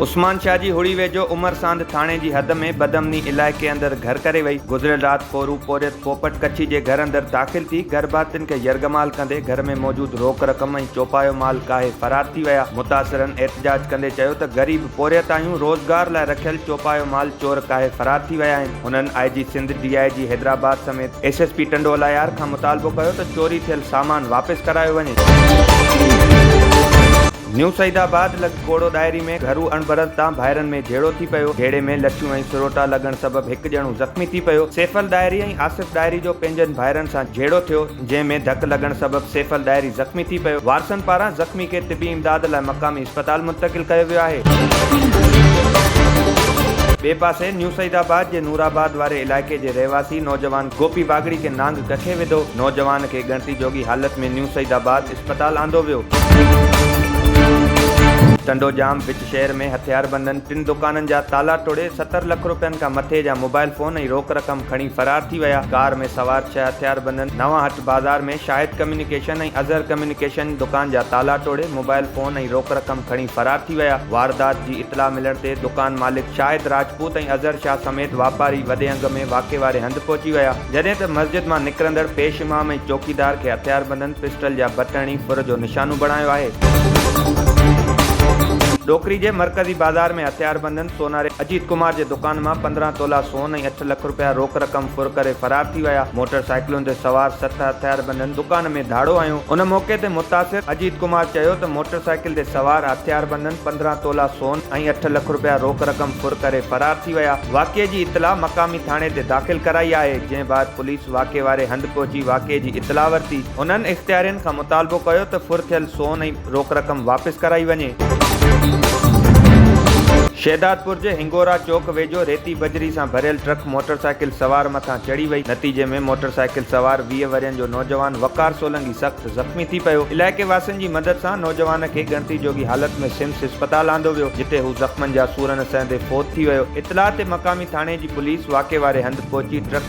عثمان شاهه جي هڙي ويجهو عمر ساند ٿاڻي جي حد ۾ بدامني علائقي اندر گهر ڪري وئي، گذريل رات پورو پورهيت پوپٽ ڪڇي جي گهر اندر داخل ٿي گهر ڀاتين کي يرغمال ڪندي گهر ۾ موجود روڪ رقم ۽ چوپايو مال ڪاهي فرار ٿي ويا، متاثرن احتجاج ڪندي چيو ته غريب. پورهيتايون روزگار لاء رکيل چوپايو مال چور ڪاهي فرار ٿي ويا آهن، هنن آء جي Sindh, D I G Hyderabad سميت S S P Tando Allahyar کان مطالبو ڪيو ته چوري ٿيل سامان واپس ڪرايو وڃي. نيو سعيد آباد لڳ ڪوڙو ڏاهري ۾ گهرو اڻبرت تان ڀائرن ۾ جهيڙو ٿي پيو، جهيڙي ۾ لٺيون ۽ سروٽا لڳڻ سبب هڪ ڄڻو زخمي ٿي پيو، سيفل ڏاهري ۽ آصف ڏاهري جو پنهنجن ڀائرن سان جهيڙو ٿيو، جنهن ۾ ڌڪ لڳڻ سبب سيفل ڏاهري زخمي ٿي پيو، وارثن پاران زخمي کي طبي امداد لاء مقامي اسپتال منتقل ڪيو ويو آهي. ٻئي پاسي نيو سعيد آباد جي نور آباد واري علائقي جي رهواسي نوجوان گوپي واڳڙي کي نانگ ڪکي وڌو، نوجوان کي ڳڻتي جوڳي حالت ۾ نيو سعيد آباد اسپتال آندو ويو. ٽنڊو ڄام وچ شهر ۾ هٿياربندن ٽن دڪانن جا تالا ٽوڙي ستر لک رپين کان مٿي جا موبائل فون ۽ روڪ رقم کڻي فرار ٿي ويا، ڪار ۾ سوار ڇهه هٿياربندن نوان هٽ. بازار ۾ شاهد ڪميونيڪيشن ۽ اظهر ڪميونيڪيشن دڪان جا تالا ٽوڙي موبائل فون ۽ روڪ رقم کڻي فرار ٿي ويا. واردات جي اطلاع ملڻ تي دڪان مالڪ شاهد راجپوت ۽ اظهر شاهه سميت واپاري وڏي انگ ۾ واقعي واري هنڌ پهچي ويا، جڏهن ته مسجد مان نڪرندڙ پيش امام ۽ چوڪيدار کي هٿياربندن پسٽل جا بٽ هڻي ڦر جو نشانو بڻايو آهي. ڏوڪري جي مرڪزي بازار ۾ هٿياربندن سوناري اجيت ڪمار جي دڪان مان پندرهن تولا سون ۽ لک رپيا روڪ رقم ڦر ڪري فرار ٿي ويا، موٽر سائيڪلن تي سوار ست هٿياربندن دڪان ۾ ڌاڙو هنيو، ان موقعي تي متاثر اجيت ڪمار چيو ته موٽر سائيڪل تي سوار هٿياربندن پندرهن تولا سون ۽ اٺ لک رپيا روڪ رقم ڦر ڪري فرار ٿي ويا، واقعي جي اطلاع مقامي ٿاڻي تي داخل ڪرائي آهي، جنهن بعد پوليس واقعي واري هنڌ پهچي واقعي جي اطلاع ورتي، هنن اختيارين کان مطالبو ڪيو ته ڦر ٿيل سون ۽. روڪ رقم واپس ڪرائي وڃي. شهدادپور جي هنگورا چوڪ ويجهو ريتي بجري سان ڀريل ٽرڪ موٽرسائيڪل سوار مٿان چڙهي وئي، نتيجي ۾ موٽرسائيڪل سوار ويهه ورهين جو نوجوان وقار سولنگي سخت زخمي ٿي پيو، علائقي واسين جي مدد سان نوجوان کي ڳڻتي جوڳي حالت ۾ سمس اسپتال آندو ويو، جتي هو زخمن جا سورن سهندي فوت ٿي ويو، اطلاع تي مقامي ٿاڻي جي پوليس واقعي واري هنڌ پهچي ٽرڪ.